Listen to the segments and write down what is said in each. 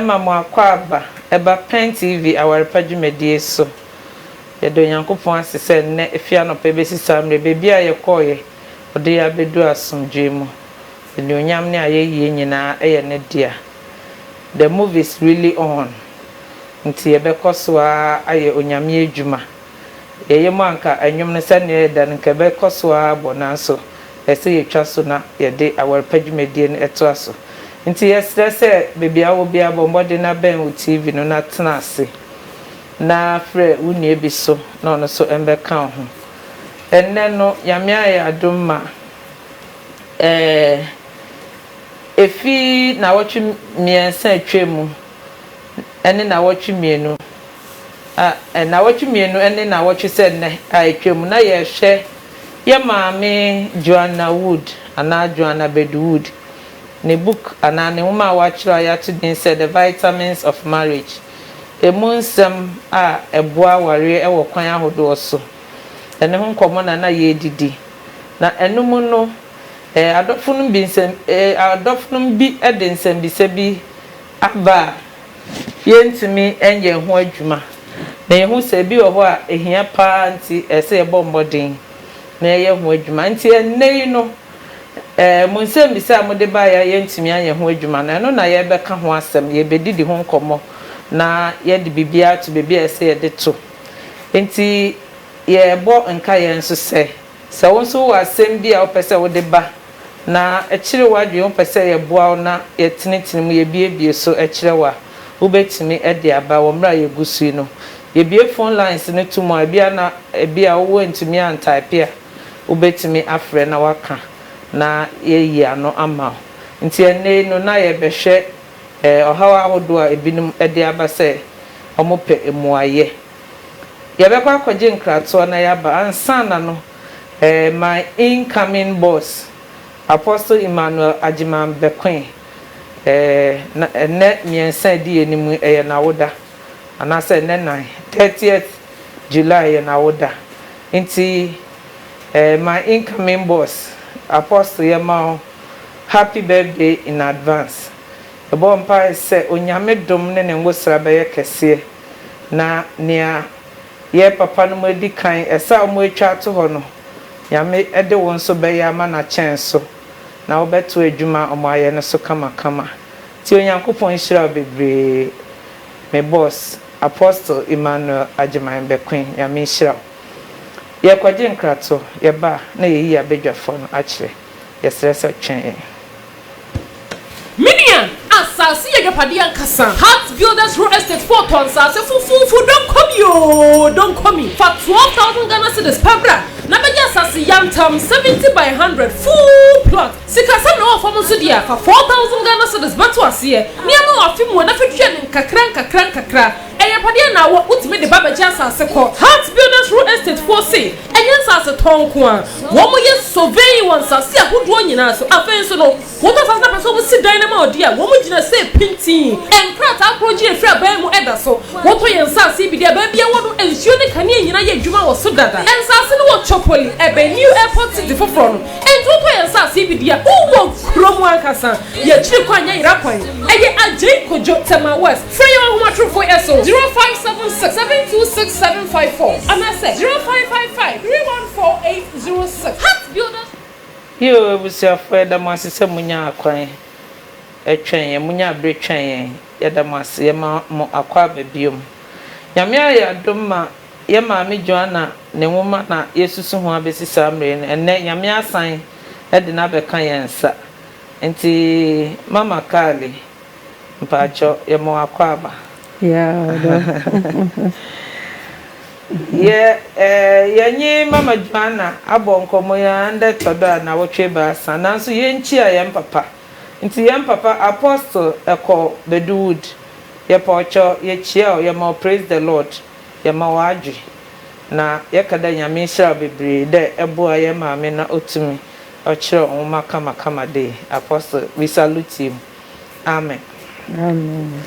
ma mo akwaaba ba Pen TV awarepa dwumadie so. Yɛda Onyankopɔn ase sɛ nnɛ ɛfiri anɔpa ɛbɛsi saa mmerɛ yi, baabi a yɛkɔeɛ, ɔde yɛn abɛduru asomdwoeɛ mu. Animuonyam ne ayɛyie nyinaa yɛ Ne dea. The movie is really on, nti yɛbɛkɔ so ara ayɛ Onyame adwuma. Yɛyɛ mu a anka nnwom no sɛnea ɛyɛ dɛ no anka ɛbɛkɔ so ara bɔ nanso ɛsɛ sɛ yɛtwa so na yɛde aware pa dwumadie no toa so. Nti yɛsrɛ sɛ baabi a wowɔ biara bɔ mmɔden na bɛn wo TV no na tena ase na frɛ wo nua bi so na ɔno nso mmɛka wo ho. Ɛnnɛ no Nyame ayɛ adom ma ɛɛ ɛfiri nnawɔtwe mmiɛnsa a atwam mu ɛne nnawɔtwe mmienu a, nnawɔtwe mmienu ne nnawɔtwe sɛ nnɛ a atwam na yɛrehwɛ yɛn maame Joanna Wood anaa Joanna Bedu Wood ne book anaa ne nwoma a wɔakyerɛw a yɛato din sɛ The Vitamins of Marriage, Emu Nsɛm a Ɛboa Awareɛ wɔ Kwan Ahodoɔ So, ɛno ho nkɔmmɔ na na yɛredidi. Na ɛno mu no, ɛɛ, adɔfonom bi nsɛm, ɛɛ, adɔfonom bi de nsɛmmisa bi aba a Yɛrentumi nyɛ yɛn ho adwuma, na yɛhu sɛ ebi wɔ hɔ a ehia paa nti ɛsɛ sɛ yɛbɔ mmɔden na yɛyɛ ho adwuma. Enti ɛnnɛ yi no, ɛɛ, mo nsɛmmisa a mode baeɛ a yɛrentumi anyɛ ho adwuma no, ɛno na yɛrebɛka ho asɛm, yɛrebɛdidi ho nkɔmmɔ, na yɛde biribiara ato baabi a ɛsɛ sɛ yɛde to. Enti yɛrebɔ nkaeɛ nso sɛ. Sɛ wo nso wowɔ asɛm bi a wopɛ sɛ wode ba na ɛkyere w'adwene, wopɛ sɛ yɛboa wo na yɛtenetene mu, yɛbuebue so kyerɛ wo a, wobɛtumi de aba wɔ mmerɛ a yɛgu so yi no. Yɛbue phone lines no to mu a, ebia na ebia wo woantumi antaepe a, wobɛtumi afrɛ na woaka na yɛayi ano ama wo. Nti ɛnnɛ yi no na yɛrebɛhwɛ ɔhaw ahodoɔ a ebinom de aba sɛ wɔpɛ mmuaeɛ. Yɛbɛkɔ akɔgye nkratoɔ na yɛaba. Ansana no, eh, my incoming boss, Apostle Emmanuel Agyeman bɛkoe. Eh, na ɛnnɛ mmiɛnsa adi anim yi, ɛyɛ n'awoda. Anaasɛ ɛnnɛ nnan, thirtieth July, yɛ n'awoda. Nti, eh, my incoming boss, Apostle, yɛma wo happy birthday in advance. Bɔ mpae sɛ Onyame dom ne ne ngosra bɛyɛ kɛseɛ na nea yɛ papa no mo adi kan ɛsɛ a wɔatwa ato hɔ no Nyame de wo nso bɛyɛ ama no akyɛn so na wo bɛtoa adwuma a wɔayɛ no so kamakama nti Onyankopɔn nhyira wo bebree me boss Apostle Emmanuel Agyeman Bɛkoe Nyame nhyira wo Yɛ kɔgye nkrato yɛba a na yɛyi abadwafoɔ no akyerɛ yɛsrɛ sɛ twɛn yɛn. Me nua, asase yɛ agyapadeɛ ankasa. Hart Builders Real Estate foɔ tɔn nsase fofoofo, don't call me oo, don't call me. Fa twelve thousand Ghana cedis pɛ bra na bɛgye asase yantam, seventy by hundred, full plot. Sikasɛm na ɛwɔ fam nso deɛ a, fa four thousand Ghana cedis bɛto aseɛ, nneɛma wɔ afe mua na fa tua no nkakra nkakra nkakra. Ayapadeɛ na awɔ, wotumi de ba bɛgye asase kɔ. Heart Builders Real Estate foɔ se, ɛnyɛ nsase tɔn nko ara, wɔyɛ surveying wɔ nsase ahodoɔ nyinaa so. Afei nso no, wotɔ asase na pɛ sɛ wɔsi dan no ma wo deɛ a, wɔn gyina se pintinn. Nkrataa koro gye efiri aban mu da so. Wotɔ yɛn nsase yi bi deɛ a, baabi a ɛwɔ no, nsuo ne kanea nyinaa yɛ adwuma wɔ so dada. Nsase no wɔ Chopoli, ɛbɛn New Airport City foforɔ no. Enti wotɔ yɛn nsase yi bi deɛ a, wowɔ kurom ankasa. Yɛn akyiri kwan nyɛ Yera kwan, ɛyɛ Adjei Kojo, Tema West. Frɛ yɛn wɔ ahomatorofo yi so, 0576 726 754 anaasɛ 0555 314806. Heart Builders. Yiw, abusuafo, yɛda mo ase sɛ munyaa kwan twɛn yɛn, munyaa bere twɛn yɛn. Yɛda mo ase. Yɛma mo akwaaba bio. Nyame ayɛ adom ma yɛn Maame Joanna ne nwoma na yɛresusu ho abɛsi saa mmerɛ yi no, ɛnnɛ Nyame asan de no abɛka yɛn nsa. Enti Mama Carly. Mpakyɛw yɛ ma w'akwaaba. Yeah, ɔdɔ. Yɛ eh, yɛnye Mama Joanna abɔ nkɔmbɔ yi ara ndɛ tɔ do a naawɔtwe ebiasa, naaso yennkyia hɛn papa. Ntsi hɛn papa Apostle Eko Bedu Wood, yɛpa wo kyɛw, yekyia wo, yɛma wo Praise the Lord, yɛma wo adwe, na yɛka dɛ Nyame nhyira wo beberee dɛ eboa hɛn maame na otumi ɔkyerɛɛw nwoma kamakama dei. Apostle, we salute you. Amen. Amen.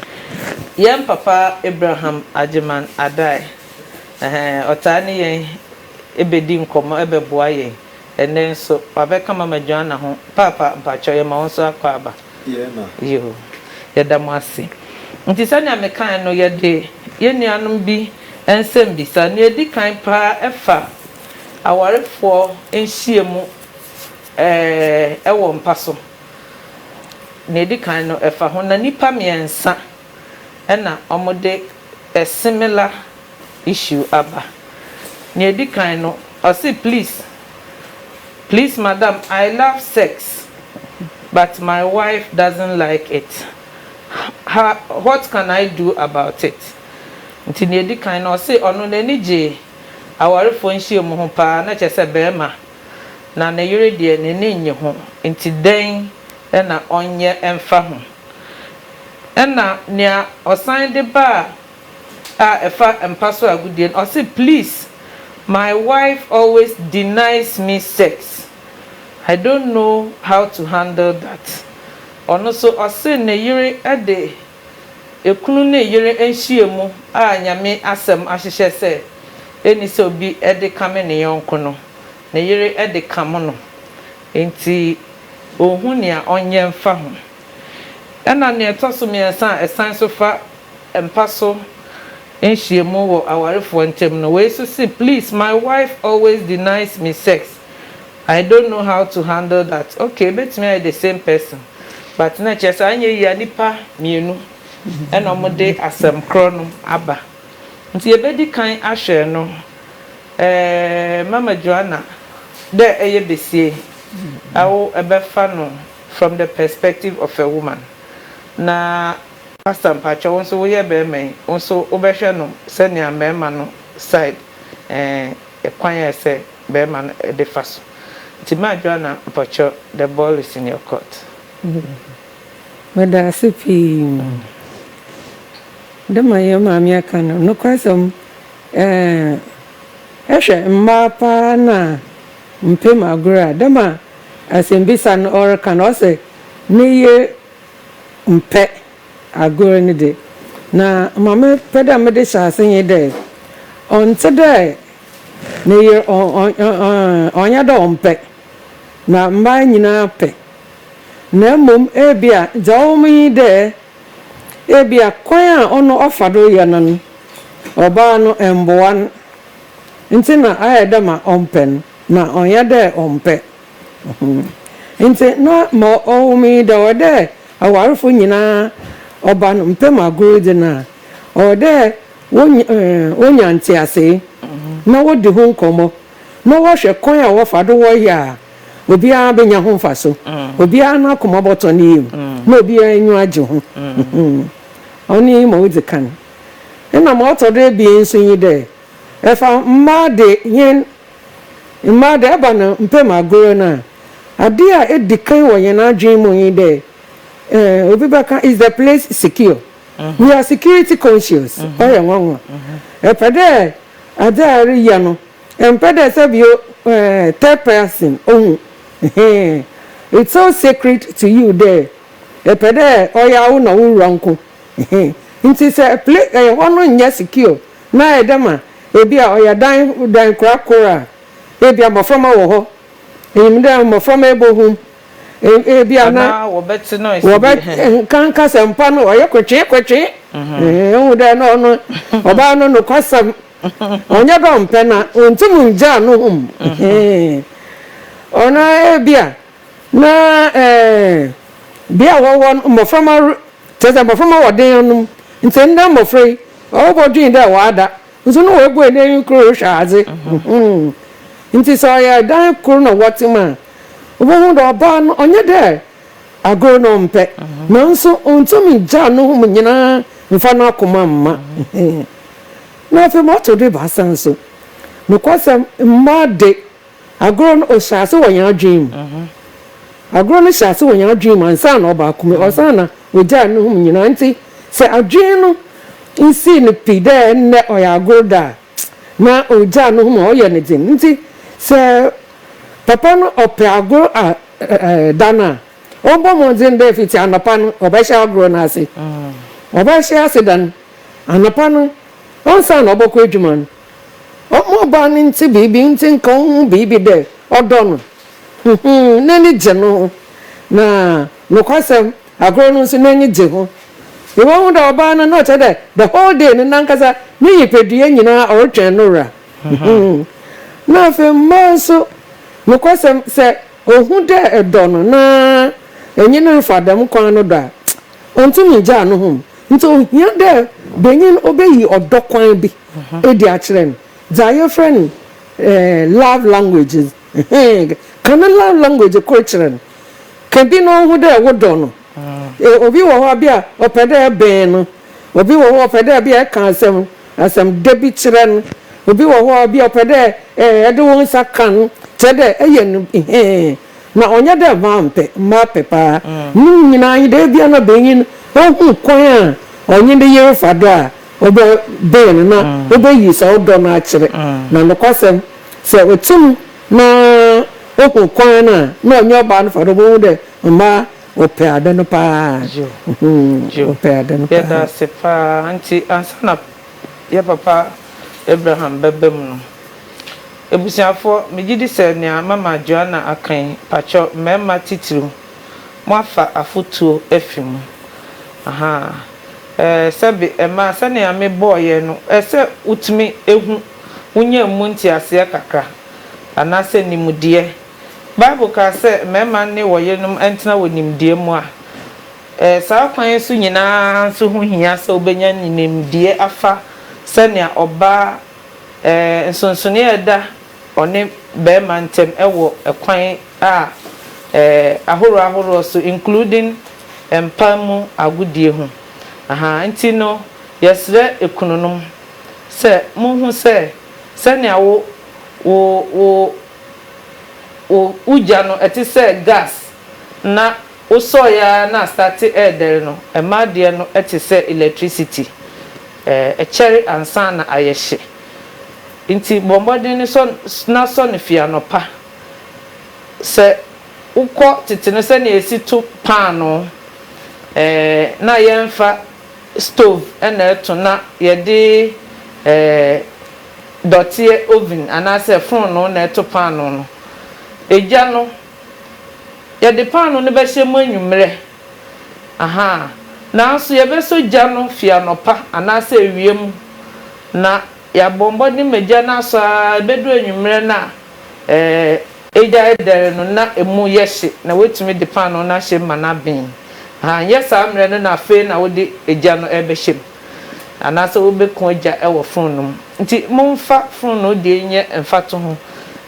Yɛn papa Abraham Agyeman Addae, ɛhɛɛ, ɔtaa ne yɛn bɛdi nkɔmmɔ bɛboa yɛn. Ɛnnɛ nso, wabɛka Mama Joanna ho. Paapa, mpakyɛw, yɛma wo nso akɔ aba. Yoo. Yɛda mo ase. Nti sɛnea mekae no, yɛde yɛn nuanom bi nsɛmmisa. Nea ɛdi kan paa ɛfa awarefoɔ nhyiamu ɛɛ ɛwɔ mpa so. Nea edi kan no, ɛfa ho na nnipa mmiɛnsa na wɔde a similar issue aba. Nea edi kan no, ɔse please, please madam, I love sex but my wife doesn't like it, ha what can I do about it? Nti nea edi kan no, ɔse ɔno n'ani gye awarefoɔ nhyiamu ho paa, na kyerɛ sɛ barima na ne yere deɛ n'ani nnye ho, enti dɛn na ɔnyɛ mfa ho? Ɛnna nea ɔsan de baa a ɛfa mpa so agodie no, ɔse, Please, my wife always denies me sex. I don't know how to handle that. Ɔno nso, ɔse ne yere de Ekunu ne yere nhyiam a Nyame asɛm ahyehyɛ sɛ enni sɛ obi de kame ne yɔnko no, ne yere de kame no, enti onhu nea ɔnyɛ mfa ho. Ɛnna nea ɛtɔ so mmiɛnsa a ɛsan so fa mpa so nhyiam wɔ awarefoɔ ntam no, wei nso se, Please, my wife always denies me sex. I don't know how to handle that okay ebetumi ayɛ the same person but na ɛkyerɛ sɛ anyɛ yie a nipa mmienu ɛna ɔmo de asɛm korɔ no aba nti yɛbɛdi kan ahwɛ no ɛɛ mama Joanna dɛ ɛyɛ besie a wo ɛbɛfa no from the perspective of a woman na pastor mpakyɛw wo nso woyɛ bɛɛma yi wo nso wobɛhwɛ no sɛnea mɛɛma no side ɛɛ. kwan a sɛ bɛɛma no de fa so nti ma Joanna mpɔkyerɛ the ball is in your court. Medaase pii de ma yɛn maame aka no nokwasɛm ɛɛ hwɛ mmaa paa na mpem agorɔ a de ma asɛmbisa no ɔreka no ɔsɛ ne yere mpɛ Agor no dze, na ma mepɛ dɛ medze hyɛ ase nye dɛ, ɔnntse dɛ ne yer ɔnnyɛ dɛ ɔmmpɛ, na mbaa nyina pɛ, na mbom ebia dza ɔwɔ mu nye dɛ, ebia kwan a ɔno ɔfa do yɛ no no, ɔbaa no mmboa no, ntsi na ayɛ dɛ ma ɔmmpɛ no, na ɔnnyɛ dɛ ɔmmpɛ. Ntsi na ma ɔwɔ mu nye dɛ, ɔwɔ dɛ Awarfo nyina ɔba no mpam agorudze no a, ɔwɔ dɛ wonya ntseasee na wodzi ho nkɔmbɔ na wɔhwɛ kwan a wɔfa do wɔyɛ a obiara benya ho mfaso, obiara n'akoma bɔtɔ ne yamu, na obiara enyiwa gye ho. Ɔno nye ma odzi kan. Nna ma ɔtɔ do ebien so nye dɛ, fa mbaa de hɛn. Mma dɛ ɔba no mmpɛ mu agorɔ no a, ade a edzi kan wɔ hɛn adwen mu nye dɛ, eh, obi bɛka, Is the place secure? We are security conscious. Ɔyɛ nwanwa. Epɛ dɛ adze a ereyɛ no, emmpɛ dɛ sɛ bi o, eh, third person ohu. Ehe. It's so sacred to you dɛ epɛ dɛ ɔyɛ awo na wo wura nko. Ehe. Ntsi sɛ pla-, eh, hɔ no nnyɛ secure Na ayɛ dɛ ma ebia ɔyɛ adan dan kora kor a ebia mboframba wɔ hɔ. Inyim dɛ mboframba ebohum, ebia na wɔbɛkã nkasɛmpa no ɔyɛ kwetsee kwetsee. Ehu dɛ nna ɔno ɔbaa no nokwasɛm, ɔnnyɛ dɛ ɔmmpɛ na onntum nngyaa no hum. Ɔno ara ebia Na bea a wɔwɔ no, mboframba kyerɛ dɛ mboframba wɔ dan no mu. Ntsi ndɛ mbofra yi, ɔbɔdwen dɛ ɔada, nso no oebue n'enyi kor rohwɛ adze. Ntsi sɛ ɔyɛ dan kor na wɔtse mu a, wobohu dɛ ɔbaa no ɔnnyɛ dɛ agor na ɔmmpɛ, naaso onntum nngyaa no hom nyina mmfa n'akoma mma. Na afei ma ɔtɔ do ebiasa so, nokwasɛm, mbaa de, Agorɔ no ɔhyɛ ase wɔ yɛn adwene mu. Agorɔ no hyɛ ase wɔ yɛn adwene mu ansa na ɔba akoma. Ɔsan na ɔgyaa ne ho mu nyinaa. Nti sɛ adwene no nsii no pi dɛ nnɛ ɔyɛ agorɔ da a, na ɔgyaa ne ho mu a, ɔyɛ no den. Nti sɛ papa no ɔpɛ agorɔ a da no a, ɔbɔ mmɔden dɛ fiti anɔpa no ɔbɛhyɛ agorɔ no ase. Ɔbɛhyɛ ase dɛn? Anɔpa no ansa na ɔbɛkɔ adwuma no, Ɔbaa no ntse biribi, ntsi nka ohu biribi dɛ ɔdɔ no, n'enyi gye no ho. Na nokwasɛm, agor no so n'enyi gye ho. Ibohu dɛ ɔbaa no, nna ɔkyerɛ dɛ the whole day no nankasa ne nyipadua nyina ɔrotwɛn no wura. Na afei mbaa so, nokwasɛm, sɛ ohu dɛ edɔ no na enye no refa dɛm kwan no do a, onntum nngyaa noho. Ntsi ohia dɛ banyin obeyi ɔdɔ kwan bi. edi akyerɛ no, dza yɛfrɛ no love language no, ka no love language kor kyerɛ no. Ka bi no ho dɛ wodɔ no. Obi wɔ hɔ bi a ɔpɛ dɛ ebɛn no, obi wɔ hɔ ɔpɛ dɛ bi a eka asɛm asɛm dɛ bi kyerɛ no, obi wɔ hɔ bi a ɔpɛ dɛ ede wo nsa ka no, kyerɛ dɛ eyɛ no hɛɛn, na ɔnnyɛ dɛ mampɛ, mapɛ paa. Ne nyina nye dɛ, ebia na banyin no ohu kwan a ɔnye ne yer fa do a, Ɔdɔ bɛn no na wobɛyi saa ɔdɔ no akyerɛ? Na nokwasɛm, sɛ wote mu na wohu kwan no a na ɔnye ɔbaa no fa do, wobɛhu dɛ mmaa wɔpɛ ade no paa. Joe, Joe, Wɔpɛ ade no yɛda paa. ase paa. Nti ansa na yɛ papa Abraham bɛba mu no, abusuafoɔ, megye di sɛ nea mama Joanna aka yi, mpakyɛ mmarima titiriw, moafa afotuo afi mu. Ahaa. Sɛbe ɛmaa sɛnea mebɔɔ yɛn no ɛ sɛ wotumi hu, wonyaa mu nteaseɛ kakra, anaasɛ nimdeɛ. Bible kaa sɛ mmarima nne wɔn yerenom ntena wɔ nimdeɛ mu a, ɛ saa akwan yi so nyina ara nso ho hia sɛ wobɛnya nimdeɛ afa sɛnea ɔbaa ɛ nsonsonoeɛ a ɛda ɔne barima ntam wɔ kwan a ɛɛ ahoroɔ ahoroɔ so including mpa mu agodie ho ahaa nti no yɛsrɛ ekununom sɛ mo hu sɛ sɛnea wo wo wo wo wo gya no ɛte sɛ gas na wo sɔɔ yɛ ara na astate ɛɛdɛre no mmaa deɛ no ɛte sɛ electricity ɛɛ ɛkyɛre ansa na ayɛ hye. Enti bɔ mmɔden sɔ na sɔ no fi anɔpa. Sɛ wokɔ tete no sɛnea esi to paanoo, ɛɛ, na yɛmfa stove na ɛto na yɛde, ɛɛ, dɔteɛ oven anaasɛ fononoo na ɛto paanoo no. Egya no, yɛde paanoo no bɛhyɛ mu anwummerɛ. Ahaa. Nanso yɛbɛsɔ gya no firi anɔpa anaasɛ awia mu, na yɛabɔ mmɔden ma gya no asɔ ara ɛbɛduru anwummerɛ no a, ɛɛ, egya redɛre no na emu yɛ hye na woatumi de paanoo no ahyɛ mu ma no aben. Ahaa, ɛnyɛ saa mmerɛ no na afei na wode egya no rebɛhyɛ mu, anaasɛ wobɛku egya wɔ fononoo mu. Nti momfa fononoo deɛ nyɛ mfatoho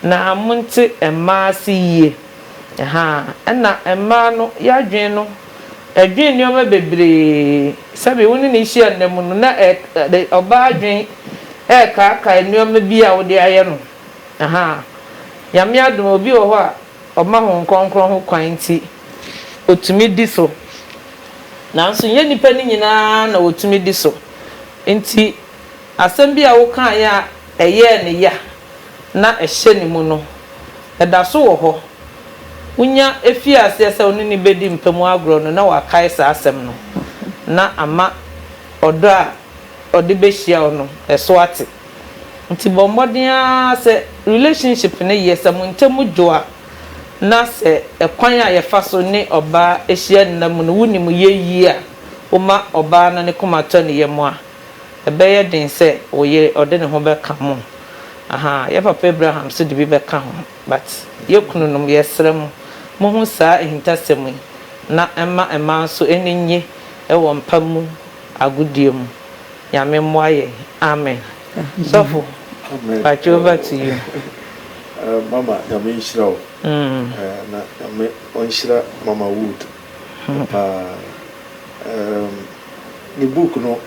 na monte mmaa ase yie. Ahaa, nna mbaa no y'adwen no dwen nneɛma beberee. Sɛbe wo ne no hyia nna mu no, na ɛde ɔbaa adwen rekaakaa nneɛma bi a wode ayɛ no. Ahaa. Nyame adom a, obi wɔ hɔ a, ɔma Hon Krɔnkrɔn ho kwan ntsi, otumi di so. Naaso nnyɛ nyimpa no nyina na wotumi di so. Ntsi. Asɛm bi a wokaeɛ a ɛyɛɛ no ya na ɛhyɛ ne mu no, ɛda so wɔ hɔ. Wonya fii aseɛ sɛ wo ne no bɛdi mpa mu agorɔ no, na wakae saa asɛm no, na ama ɔdɔ a ɔde bɛhyia wo no, ɛso ate. Nti bɔ mmɔden ara sɛ relationship no yɛ, sɛ mo ntam dwo a, na sɛ ɛkwan a yɛfa so ne ɔbaa hyia nna mu no, wonim yɛ yie a, woma ɔbaa no ne koma tɔ ne yam a, ɛbɛyɛ den sɛ wo yere ɔde ne ho bɛka mo ahaa yɛ papa Abraham nso de bi bɛka ho but yɛ kununom yɛsrɛ mo mo hu saa ahintasɛm yi na ɛmma mmaa nso ani nnye wɔ mpa mu agodie mu Nyame mmoa yɛn amen sɔfo mpakyɛ over to you. Mama nyame nhyira wo na nyame ɔnhyira mama wood. Paa. Erm ne book no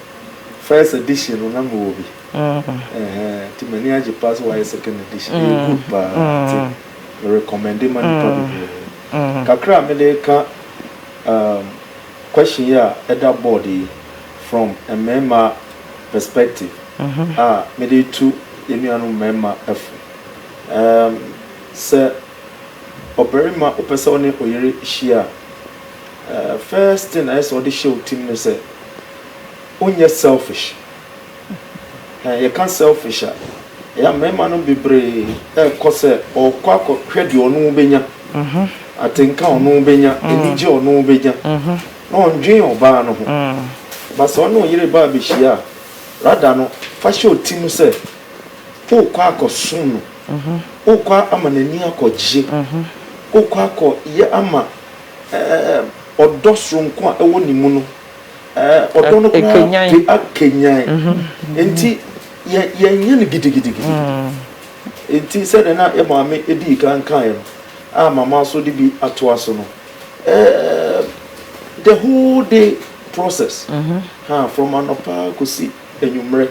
first edition no na mewɔ bi. Ɛhɛɛ nti m'ani agye paa sɛ wayɛ second edition. Ɛyɛ good paa nti me recommende ma nnipa bebree. Kakra a mede reka erm question yi a ɛda board yi from mmarima perspective a mede retu yɛn nuanom mmarima fo. Erm sɛ. ɔbarima wopɛ sɛ wo ne wo yere hyia a, eh, first thing a ɛyɛ sɛ ɔde hyɛ wo tim ne sɛ, wonyɛ selfish. Eh, yɛka selfish a, ɛyɛ a mmarima no bebree ɛrekɔ sɛ ɔrekɔ akɔhwɛ deɛ ɔno bɛnya, mhm. atenka ɔno bɛnya, mm. anigye ɔno bɛnya, mhm. na ɔndwen ɔbaa no ho. Ba sɛ ɔne wo yere baa bɛhyia a, rada no, fa hyɛ wo tim sɛ, Wokɔ akɔsom no. Wokɔ ama n'ani akɔgye. Wokɔ akɔyɛ ama ɔdɔ soronko a ɛwɔ ne mu no. Ɔdɔ no koraa de akanyan. Enti yɛnyɛ no gidigidigidi. Enti sɛdeɛ na yɛ maame dii kan kaeɛ no, a mama nso de bi atoa so no, the whole day process, from anɔpa kɔsi anwummerɛ.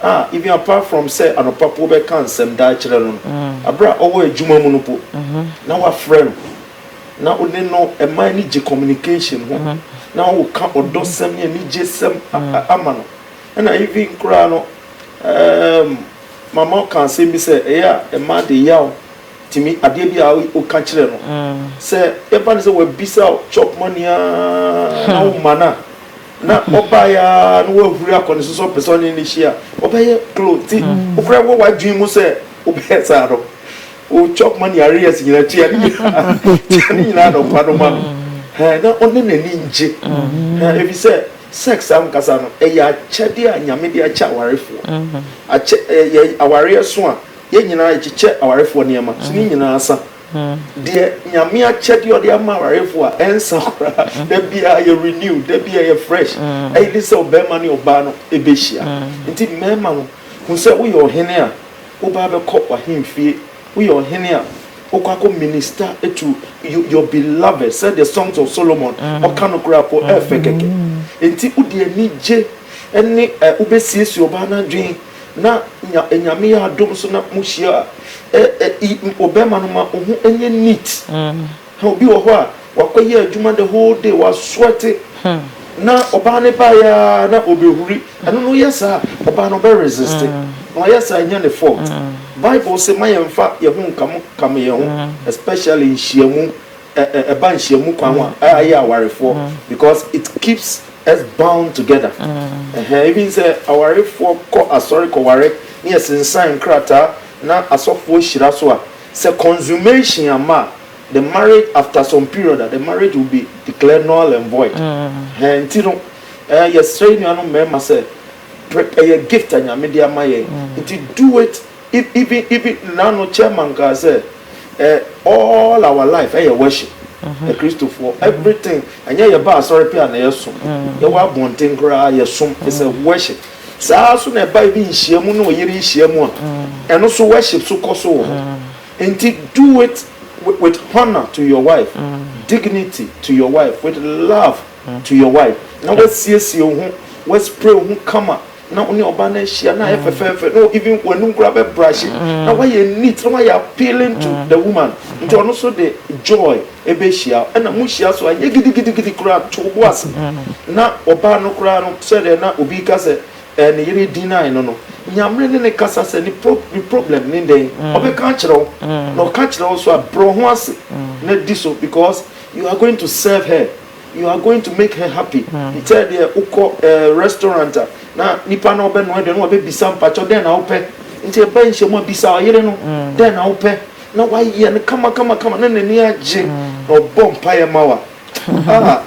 Ah, even apart from sɛ anɔpa po bɛka nsɛm daa kyerɛ no no, bere a ɔwɔ adwuma mu no po, na woafrɛ no, na wo ne no ma ani gye communication ho, na woka ɔdɔsɛm ne anigyesɛm ama no. Ɛna even koraa no, um, Mama ɔka asɛm bi sɛ, ɛyɛ a mmaa de yaw tumi adeɛ bi a woka kyerɛ no. Sɛ ɛba no sɛ wabisa wo chop money ara na womma no a, na ɔbaeɛ ara na wahuri akɔ ne so sɛ ɔpɛ sɛ ɔne no hyia ɔbɛyɛ close nti wokora wɔ w'adwene mu sɛ wobɛyɛ saa no wo chop money areas nyinaa tua ne nyinaa tua ne nyinaa nɔpa no ma no hɛn na ɔne n'ani ngye hɛn efi sɛ sex ankasa no ɛyɛ akyɛdeɛ a nyame de akyɛ awarefoɔ akyɛ ɛyɛ awareɛ so a yɛn nyinaa yɛkyekyɛ awarefoɔ nneɛma so ne nyinaa sa Deɛ nyame akyɛdeɛ ɔde ama awarefoɔ a ɛnsa koraa da biara yɛ renew da biara yɛ fresh ɛyɛ ne sɛ ɔbarima ne ɔbaa no ɛbɛhyia nti mmarima no hu sɛ woyɛ ɔhene a wobaa bɛkɔ w'ahemfie woyɛ ɔhene a wokɔ akɔ minister to your beloved sɛ the songs of Solomon ɔka no koraa po ɛfɛ kɛkɛ nti wode anigye ɛne wobɛsiesie ɔbaa no adwene na nya Nyame yɛ adom so na mo hyia a, ɛ ɛ i ɔbɛrima no ma wo ho nyɛ neat. Hɛ obi wɔ hɔ a, wakɔ yɛ adwuma the whole day, wa sweate, na ɔbaa no baeɛ ara na ɔbɛhuri. Ɛno no woyɛ saa a, ɔbaa no ɔbɛ resiste. Na ɔyɛ saa a, ɛnyɛ ne fault. Bible se ma yɛmfa yɛn ho nkam nkam yɛn ho, especially nhyiamu. ɛba nhyiamu kwan ho a ɛyɛ awarefoɔ because it keeps us bound together ɛhɛn even sɛ awarefoɔ kɔ asɔre kɔware ne yɛsensan nkrataa na asɔfoɔ hyira so a sɛ consummation ama a the marriage after some period a the marriage will be declared null and void ɛhɛn nti no yɛsrɛ nuanom mmarima sɛ ɛyɛ gift a nyame de ama yɛn nti do it Even even even nna no chairman kaa sɛ eh all our life ɛyɛ worship eh Kristofoɔ everything ɛnyɛ yɛ ba asɔre pɛ a na yɛ som yɛ wɔ abɔnten koraa yɛ som it's a worship saa so na ɛba ebi nhyia mu ne ɔyere nhyia mu a ɛno so worship so kɔ so wɔ hɔ nti do it with honour to your wife dignity to your wife with love to your wife na wasiesie wo ho wa spray wo ho kama na wo ne ɔbaa no ahyia na ayɛ mm. fɛfɛɛfɛ na even w'anum koraa bɛ brush mm. na wayɛ neat na wayɛ appealing to mm. the woman nti ɔno so de joy ɛbɛhyia ɛna mo hyia so anyɛ gidigidigidi koraa to bo ase na ɔbaa no koraa no sɛdeɛ na obi ka sɛ ɛɛ ne yere din nan no no nyamere ne ne kasa sɛ ne pro ne problem ne dɛn ɔbɛka akyerɛ wo na ɔka kyerɛ wo so a brɛ ho ase na di so because you are going to serve her. You are going to make her happy Te sɛ deɛ wokɔ eh, restaurant a na nipa na ɔbɛnoa aduane no wabɛbisa mpakyɛw dɛn na wopɛ nti ɛba nhyiamu a bisa ɔyere no dɛn na wopɛ na wayɛ no kama kama kama na n'ani agye na ɔbɔ mpaeɛ ma wa ah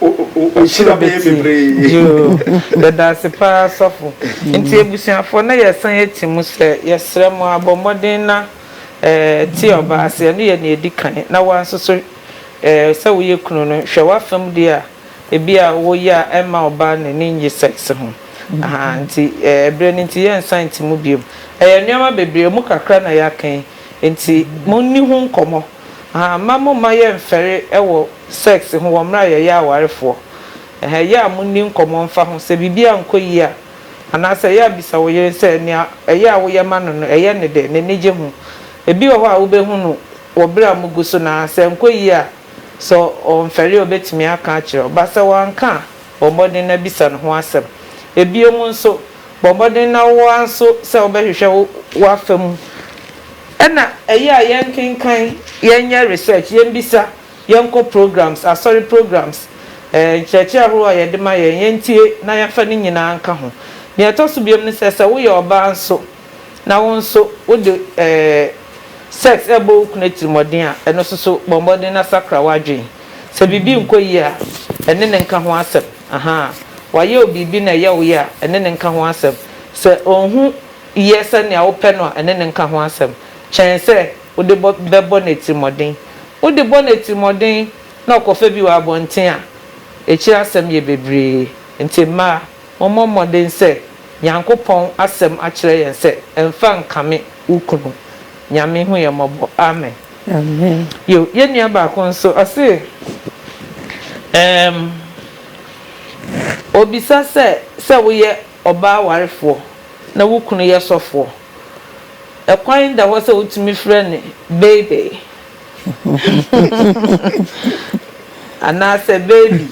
o- o- o- ɔhyira bɛyɛ bebree Yoo, yɛda ase paa sɔfo. Nti abusuafoɔ na yɛsan yɛti mu sɛ yɛsrɛ mo abɔ mmɔden na eh, te ɔbaa ase, ɛno yɛ nea ɛdi kan, na woa nso so Ɛɛ, sɛ woyɛ kunu no, hwɛ w'afa mu deɛ a ebia woyɛ a ɛmma ɔbaa no ani nnye sex ho. Ahaa, nti ɛɛ, berɛ no nti yɛnsan nte mu bio. Ɛyɛ nneɛma bebree, emu kakra na yɛaka yi. Nti monni ho nkɔmmɔ. Ahaa, mma momma yɛmfɛre wɔ sex ho wɔ mmerɛ a yɛyɛ awarefoɔ. Ɛhɛ, ɛyɛ a monni nkɔmmɔ mfa ho. Sɛ biribi ankɔ yie a, anaasɛ ɛyɛ a bisa wo yere sɛ nea ɛyɛ a woyɛ ma no no, ɛyɛ no dɛ? N'ani gye ho? Ebi wɔ hɔ a wobɛhunu Wɔ bere a mugu so no ara, sɛ ɛnkɔ yiye a, sɛ ɔmfɛre a obetumi aka akyerɛ wo ba. Sɛ wanka a, bɔ mmɔden na bisa no ho asɛm. Bio nso, bɔ mmɔden na wo ara nso sɛ wobɛhwehwɛ w'afa mu. Ɛnna ɛyɛ a yɛnkenkan, yɛnyɛ research, yemmisa, yɛnkɔ programs, asɔre programs, ɛɛ, nkyerɛkyerɛ ahorow a yɛde ma yɛn, yentie na yɛmfa ne nyinaa nka ho. Nea ɛtɔ so biom ne sɛ, sɛ woyɛ ɔbaa nso, na wo nso wode ɛɛ sex rebɔ wo kunu atirimmɔden a, ɛno nso so bɔ mmɔden na sakra w'adwene. Sɛ biribi nkɔ yie a, ɛne no nka ho asɛm. Ahaa. Wayɛ wo biribi na ɛyɛ wo ya a, ɛne no nka ho asɛm. Sɛ onhu yɛ sɛnea wopɛ no a, ɛne no nka ho asɛm. Kyɛn sɛ wode bɔ bɛbɔ no atirimmɔden. Wode bɔ no atirimmɔden na ɔkɔfa bi wɔ abɔnten a, akyiri asɛm yɛ bebree. Enti mmaa, Mommɔ mmɔden sɛ Nyankopɔn asɛm akyerɛ yɛn sɛ ɛmfa nkame wo kunu. Nyame hu yɛn mmɔbɔ. Amen. Amen. Yo, yɛn nua baako nso, ɔse, Erm, obisa sɛ, sɛ woyɛ ɔbaa warefoɔ na wo kunu yɛ sɔfoɔ, ɛkwan da hɔ sɛ wotumi frɛ no Bebe? Anaasɛ baby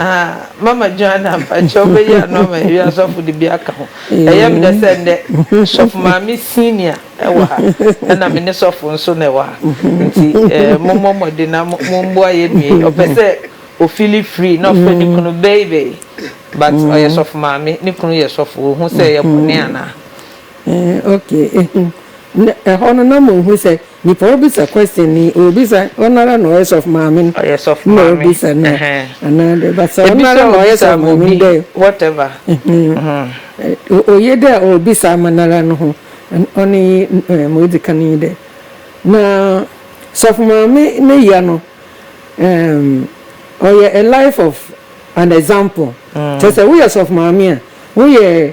ah mama Joanna mpakyɛw bɛyi ano ama yɛn wiase ɔfo de bi aka ho. Ɛyɛ me dɛ sɛ nnɛ sɔfo maame senior wɔ ha ɛna me ne sɔfo nso na ɛwɔ ha nti mommɔ mmɔden na mommoa yɛn nua yi ɔpɛ sɛ o feel free na ɔfrɛ ne kunu baby but ɔyɛ sɔfo maame ne kunu yɛ sɔfo ohu sɛ ɛyɛ bɔne anaa? Eh okay na ɛhɔ no na mo hu sɛ nipa ɔbisa question ni ɔbisa ɔnara na ɔyɛ sɔfo maame no ɔyɛ sɔfo maame na ɔbisa no anaa dɛ but sɛ ɔnara na ɔyɛ sɔfo maame no dɛ whatever eh oye dɛ ɔbisa ama nara no ho ɔne yi eh mo edzi kan yi dɛ na sɔfo maame ne ya no ehm ɔyɛ a life of an example kyerɛ sɛ woyɛ sɔfo maame a woyɛ.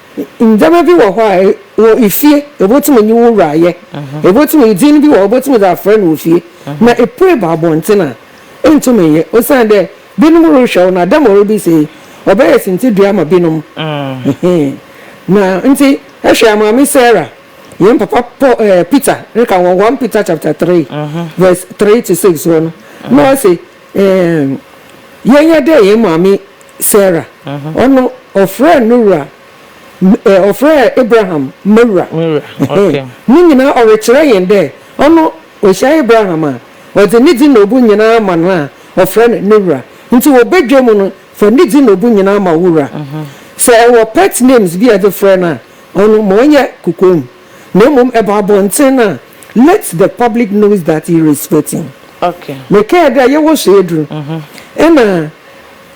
Ndzɛmba bi wɔ hɔ a wɔ fie ibotum nye wo wura ayɛ, ibotum dzin bi wɔ hɔ ibotum dze afrɛ no wɔ fie, na epue ba abɔntsen a, inntum nnyɛ osiandɛ binom rohwɛ wo na dɛm a ɔreba yi sɛ yi ɔbɛyɛ sintsidua ama binom. Na ntsi hwɛ Maame Sarah, hɛn papa Paul, ɛɛ Peter, reka wɔ One Peter chapter three verse three to six hɔ no, na ɔse, Eeeii yɛnyɛ dɛ hɛn maame Sarah, ɔno ɔfrɛɛ no wura, eh ɔfrɛɛ Abraham m'ewura, eh ne nyina ɔrekyerɛ hɛn dɛ ɔno ohyia Abraham a ɔdze ne dzin na obu nyina ma no a ɔfrɛ no ne wura, ntsi wɔ badwa mu no fa ne dzin na obu nyina ma wo wura. Sɛ ewɔ pet names bi a edze frɛ no a ɔno ma ɔnyɛ kokoam. na mmom ɛba abɔnten a, let the public knows that you respect him. Mekɛɛ dɛ yɛwɔ Soeɛduru nna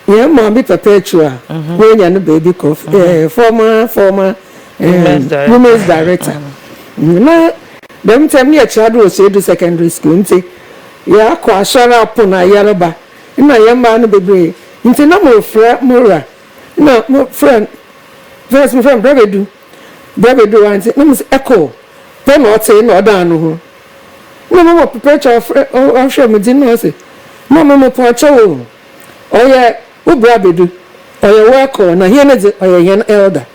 yɛn maame perpetua woenya no beebi kɔ former former women's director na dɛm ntsi emi yɛ kyerɛado wɔ Soeɛduru secondary school ntsi yɛakɔ asɔr apon a yɛreba nna yɛn mbaa no bebree ntsi na morefrɛ mo wura nna mofrɛ no first mofrɛ no Brɛbedu Berɛ bebree a nti na mehu sɛ echo pɛ na ɔte na ɔdaa no ho na mama perpetual ɔfrɛ ɔhwɛ me din na ɔse mama mepɔɔkyɛ wo ɔyɛ wo bra bedu ɔyɛ wo echo na hɛn ne dze ɔyɛ hɛn elder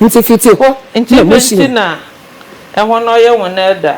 nti fiti hɔ na mohyia. Nti dɛn nti na ɛhɔ no ɔyɛ wɔn elder?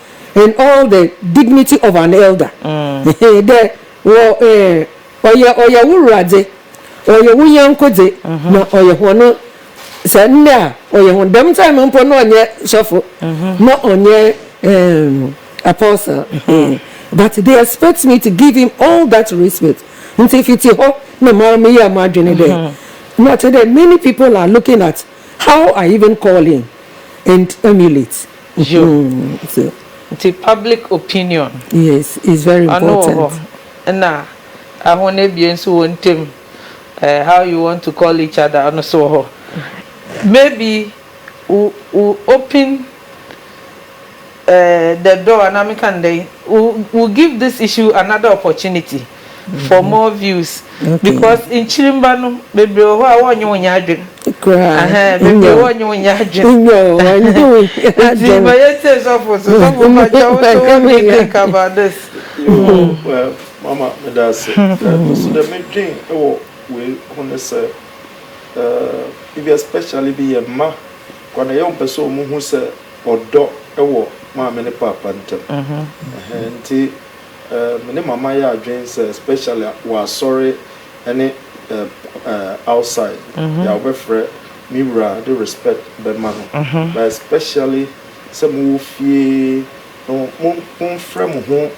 and all the dignity of an elder ehe dɛ wɔ eh ɔyɛ ɔyɛ wo wura dze ɔyɛ wo nyɛnko dze na ɔyɛ hɔn sɛ ndɛ a ɔyɛ hɔn dɛm time no mpo na ɔnnyɛ sɔfo na ɔnnyɛ ehm apostle eeh but they expect me to give him all that respect ntsi fitsi hɔ na mara meyɛɛ m'adwen dɛ na ɔkyerɛ dɛ many people are looking at how I even call him and emulate. Yo. Nti public opinion ɔno wɔ hɔ na ahɔn ebien so hɔn ntamu eh how you want to call each other ɔno so wɔ hɔ. Maybe wo wo open eh the door anaa meka no dɛn wo give this issue another opportunity. for more views because nkyirimba no bebree wɔ hɔ a wɔnye wo nyɛ adwen ahaa bebree wɔnye wo nyɛ adwen nti ma yɛ tie sɔfo so sɔfo mpakyɛ wo so what do you think about this. mama meda ase nso dɛ medwen wɔ wei ho ne sɛ ebi especially bi yɛ mma kwa na yɛ wɔn pɛ sɛ wɔn hu sɛ ɔdɔ wɔ maame ne paapa ntam nti. eh, me ne mama yɛ adwen sɛ especially wɔ asɔre ne eh, eh, outside mm-hmm. yɛ a wobɛfrɛ me wura de respect bɛma no mm-hmm. but especially sɛ mowɔ fie no momfrɛ mo ho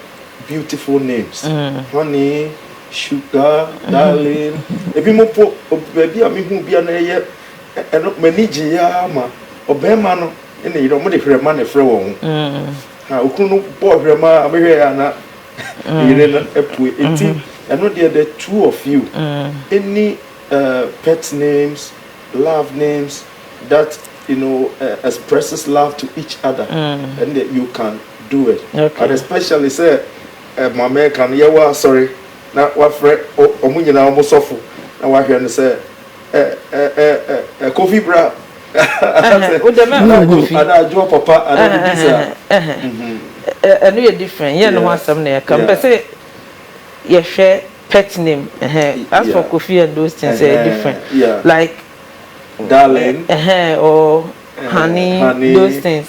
beautiful names mm. honey sugar mm-hmm. darling ebi mo po baabi a mehu bi a na ɛyɛ ɛno m'ani gye yɛ ama ɔbɛrima no ne yere wɔn de hwɛ ma na ɛfrɛ wɔn ho. Mm. Na okunu no bɔɔ hwɛ maa mehwɛeɛ a na ne yere no apue. Enti ɛno deɛ the two of you any uh, pet names, love names that you know uh, expresses love to each other and that you can do it Okay. and especially sɛ eh, ma mɛka no yɛwɔ asɔre na wafrɛ o- ɔmo nyinaa ɔmo sɔfo na wahwɛ no sɛ kofi bra anadwoɔ papa anadwobi saa ɛno yɛ different yɛ ne ho asɛm na yɛka mpɛ sɛ yɛhwɛ pet name as for kofi and those things ɛyɛ different like darling or honey those things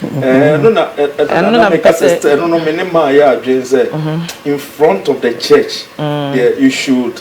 ɛno na ɛno na meka sɛ ɛno no me ne maa yɛ adwene sɛ in front of the church mm. yeah, you should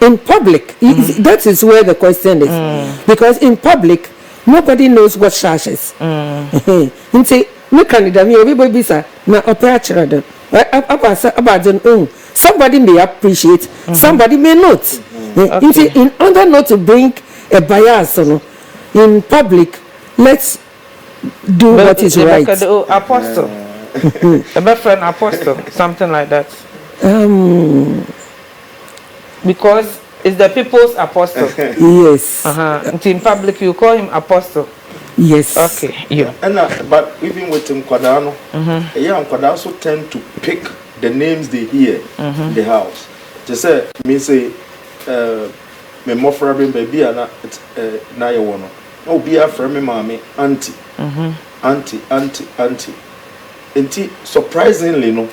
In public that is where the question is because in public nobody knows what shashes nti me ka ne dɛm yɛ obi bɛ bisa na ɔpɛ akyerɛ do aba sɛ aba adze no ohu somebody may appreciate somebody may not nti in order not to bring a bias no in public let's do what is right. Yɛbɛka dɛ o apostle yɛbɛfrɛ no apostle something like that. Um, Because is the people's apostle. Yes. Uh huh. Nti in public you call him apostle. Yes. Okay. Yo. And uh, but even with nkwadaa no, mm-hmm. yeah, nkwadaa also tend to pick the names they hear mm-hmm. in the house. They say me say uh, me mmɔfra bi baabi a na uh, na yɛ wɔ no na obi afrɛ me maame auntie mm-hmm. auntie auntie auntie nti surprisingly no.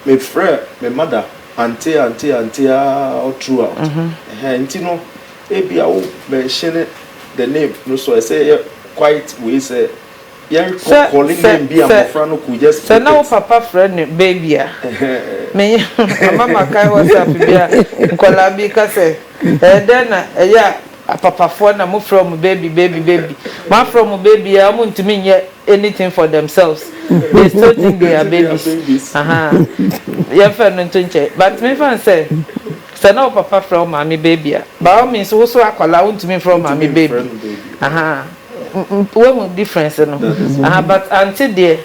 Me frɛ me mother auntie auntie auntie aa throughout ɛhɛn nti no ebia wo mention the name no so ɛsɛ yɛ quite wei sɛ yɛ recalling name bi a mmɔfra no could just pick it. Sɛ na wo papa frɛ no baby a me ama makae WhatsApp bi a nkwadaa bi ka sɛ ɛyɛ dɛn na ɛyɛ a. Apapafoɔ na mo frɛ wɔn baby baby baby mo afrɛ wɔn baby a wɔn ntumi nyɛ anything for themselves they still think they are babies ahaa yɛn fɛ no nto nkyɛn but me nfa no sɛ sɛ na wo papa frɛ wo maame baby a by all means wo so akwadaa wo ntumi nfrɛ wo maame baby ahaa wahu difference no ahaa but aunty deɛ.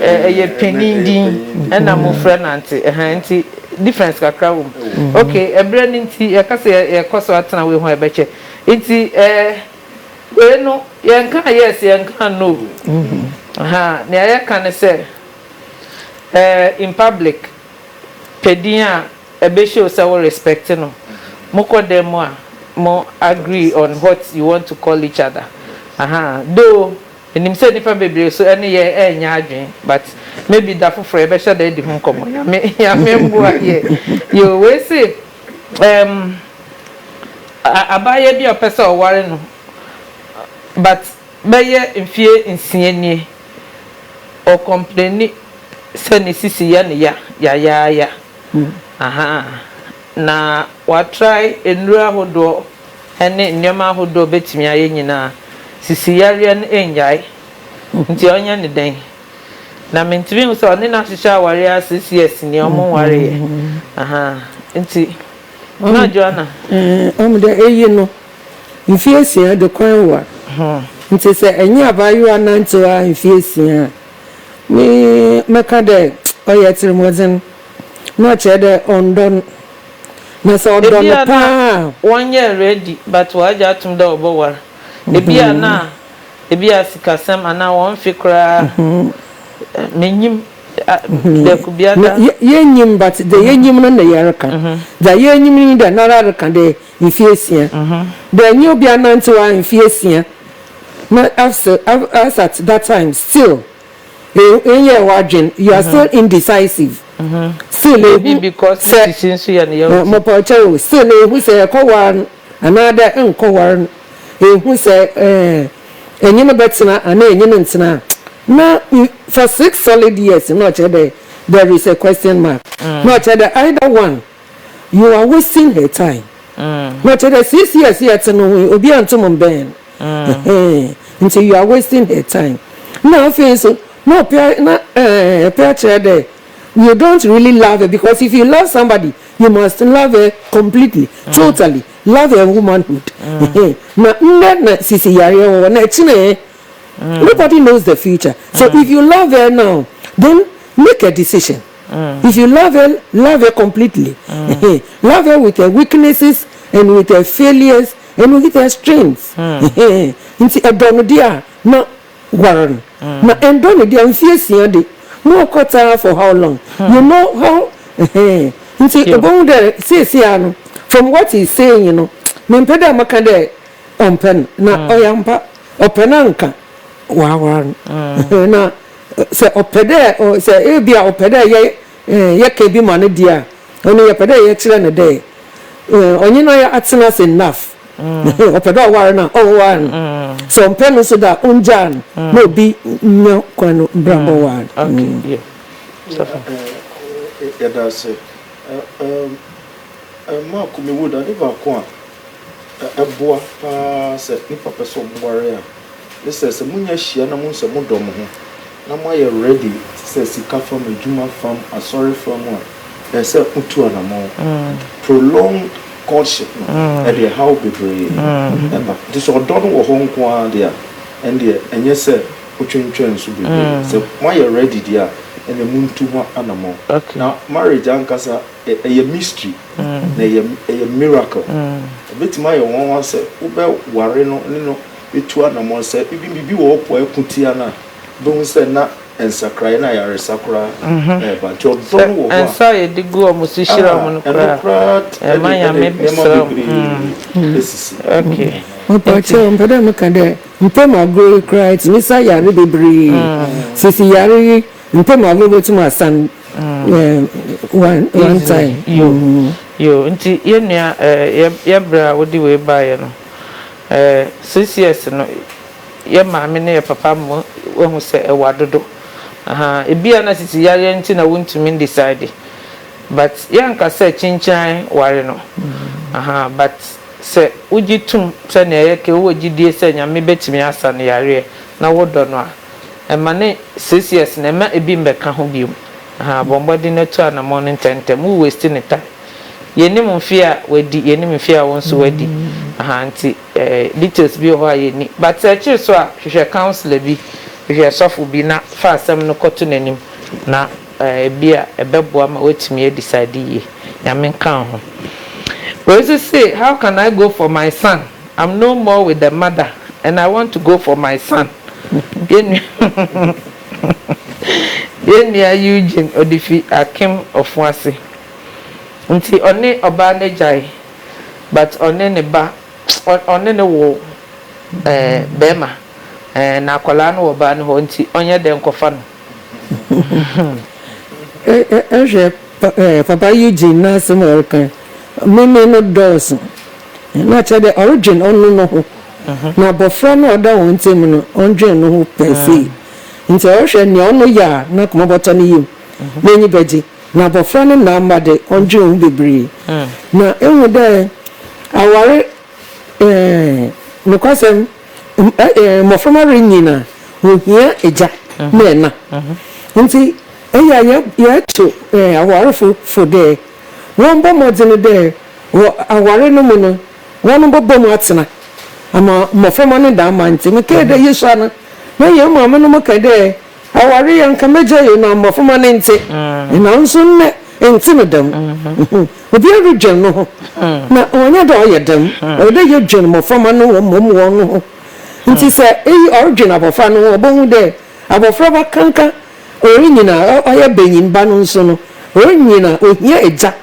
Ɛyɛ panin din ɛna mmofra nante ɛhaa nti difference kakra wɔ mu. Ok ɛberɛ no nti yɛka sɛ yɛkɔ so atena wei ho a ɛbɛkyɛ nti ɛɛ wei no yɛnkaa yes yɛnkaa no ɛhaa nea yɛka ne sɛ ɛɛ in public pɛ din a ɛbɛ show sɛ wo respect no mo kɔ dan mu a mo agree on what you want to call each other ɛhaa though Menim sɛ nipa bebree so ɛne yɛn ɛnyɛ adwene but maybe da foforɔ yɛbɛhyɛ da adi ho nkɔmmɔ Nyame Nyame mboa yɛn yoo wei se ɛɛm abaayewa bi a ɔpɛ sɛ ɔware no but bɛyɛ mfeɛ nsia nie ɔ complaini sɛ ne sisi yɛ no ya yayaaya ahaa Na wɔatrae nnuru ahodoɔ ne nneɛma ahodoɔ bɛtumi ayɛ nyinaa, sisi yareɛ no nnyae. Nti ɔnyɛ no dɛn? Na mentumi nhu sɛ ɔne no ahyehyɛ awareɛ a six years nie ɔmo nwareeɛ ahaa nti na Joanna. Ɔmo dɛ eyi no mfe asia de kɔ ɛnwar nti sɛ enye abaayewa nantsew ara mfe asia a me mɛka dɛ ɔyɛ tsirmɔdzen. Na ɔkyerɛ dɛ ɔnndɔ no. Na sɛ ɔdɔ no paa a. Ebia na wɔnnyɛɛ ready but wɔagye atom dɛ wɔbɔwar. Ebia na ebia sikasɛm anaa hɔn mfe koraa minnyim dɛ Kubiada. Yennyim but dza yenyim no na yɛreka. Dza yenyim nye dɛ noara reka dɛ mfe esia. Dɛ nye obi anantsew a mfe esia. Na as at that time still Ehu nyɛɛ w'adwen, you are still indecisive, still na ehu sɛ mopɔkyɛw o, still na ehu sɛ ɛkɔwar no anaadɛ nnkɔwar no, ehu sɛ enye no bɛtsena anaa enye no nntsena a, na for six solid years na ɔkyerɛ dɛ there is a question mark, na ɔkyerɛ dɛ either one, you are wasting her time, na ɔkyerɛ dɛ six years yɛtse no ho yi, obiara nntum mmbɛn no. Ahaa ntsi you are wasting her time na afei so na ɔpɛ na ɛɛɛ ɔpɛ akyerɛ dɛ you don't really love her because if you love somebody you must love her completely, totally love her womanhood ahaa na ndɛ na sisi yareɛ wɔ hɔ na ɛkyena ɛ nobody knows the future so if you love her now then make a decision if you love her love her completely ahaa love her with her weaknesses and with her failures. Eno he their strength nti ɛdɔ no deɛ a na ware no na ɛndɔ no deɛ a mfie asia de mo ɔkɔ taa for how long you know how nti ɔbɛhu dɛ seesei ara no from what he is saying no mempɛ dɛ mɛka dɛ ɔmpɛ no na ɔyɛ ampa ɔpɛ no a nka waaware no na sɛ ɔpɛ dɛ sɛ ebia ɔpɛ dɛ yɛ Yɛkã bi ma no deɛ a, ɔno yɛpɛ dɛ yɛkyerɛ no dɛ ɔnye no ayɛ atsena ase enough. Ɔpɛ dɛ ɔwar no a, ɔwar no. Sɛ ɔmmpɛ no so dɛ a, ongyaa no na obi nya kwan no bra bɔwar no. Yɛda ase. Mark Mewood, ade baako a a ɛboa pa ara sɛ nnipa pɛ sɛ wɔware a, ne sɛ, sɛ monya hyia na mohu sɛ modɔ mo ho, na moayɛ ready te sɛ sika fam, adwuma fam, asɔre fam a, ɛsɛ sɛ motu anammɔn. Prolonged courtship no, ɛde ɛhaw bebree ba. Nti sɛ ɔdɔ no wɔ hɔ nko ara deɛ a, ɛndeɛ ɛnyɛ sɛ motwentwɛn so bebree. Sɛ moayɛ ready deɛ a, ɛnneɛ montu ho anammɔn. Na marriage ankasa ɛyɛ mystery na ɛyɛ ɛyɛ miracle ɛbɛtumi ayɛ wɔn wa sɛ wobɛware no ne no bɛtu anamɔ sɛ ebi biribi wɔ hɔ po a ɛko tia no a bɛhu sɛ na nsakraeɛ na ayaresa koraa ɛreba nti ɔdɔ no wɔ hɔ a nsa a yɛde gu wɔn so hyira wɔn no koraa koraa ɛma nyame bɛsrɛ wɔn ɛsisi okay mpakyɛw mpɛ dɛ meka dɛ mpɛm agorɔ yi koraa ɛtumi sa yare bebree sisi yare yi Ntɛ ma ɔbɛ bɛ tum asan one one time. Yoo nti yɛ nua ɛɛ yɛ brɛ a wode wei baa yɛ no ɛɛ six years no yɛ maame ne yɛ papa mma wahu sɛ ɛwɔ adodo ahaa ebia na sisi yareɛ nti na wontumi ndisadi but yɛ nka sɛ kyinkyiran ware no ahaa but sɛ wogye tum sɛnea yɛ kɛ wowɔ gyidie sɛ nyame bɛtumi asan yareɛ na wodɔ no a. Ɛma ne six years no ɛma ebi mmɛka ho bio ahaa bɔ mmɔden na tu anamɔn no ntɛntɛm wo waste ne time yɛnim mfeɛ a wadi yɛnim mfeɛ a wo nso wadi ahaa nti details bi wɔ hɔ a yɛnni but akyiri so a hwehwɛ counsellor bi hwehwɛ sɔfo bi na fa asɛm no kɔto n'anim na ebi a ɛbɛboa ma watumi adecide yie Nyame nka ho wei nso se how can I go for my son I'm no more with the mother and I want to go for my son Yɛn nua Eugene ɔde fi Akem Ɔfoase nti ɔne ɔbaa no agyae but ɔne ne ba ɔne no wo ɛɛ bɛɛma ɛɛ na akwadaa no wɔ ɔbaa no hɔ nti ɔnyɛ dɛ nkɔfa no Hwɛ papa Eugene n'asɛm a ɔreka yi, meme no dɔɔso. Na kyerɛ dɛ ɔrodwen ɔno no ho, na abofra no a ɔda hɔn ntamu no, ɔnndwen no ho pɛɛpɛɛ. Ntsi ɔrohwɛ nea ɔno yɛ a n'akoma bɔtɔ ne yamu, n'enyi bɛgye. Na abofra no nã mma dɛ, ɔnndwen ho beberee. Na ehu dɛ awar nokwasɛm mboframba rinyin a, wohia egya na nã. Ntsi eyɛ a yɛto awarfo fo dɛ wɔmbɔ mbɔdzen dɛ. Wɔ aware no mu no, wɔbɔbɔ mu atsena ama mboframba no dɛm mã ntsi. Mekãa dɛ, Yesu, ana nna hɛn maamenom kã dɛ aware yɛ nka m'egya yɛ na mboframba ne ntse? Naaso ndɛ nntse no dɛm. Obiara rodwen noho, na ɔnnyɛ dɛ ɔyɛ dɛm. Ɔwɔ dɛ yedwen mboframba no ho mbom hɔnho. Ntsi sɛ eyi ɔrodwen abofra no ho a, obohu dɛ abofraba kanka orinyin a ɔyɛ banyinba no nso no, orinyin a ohia egya.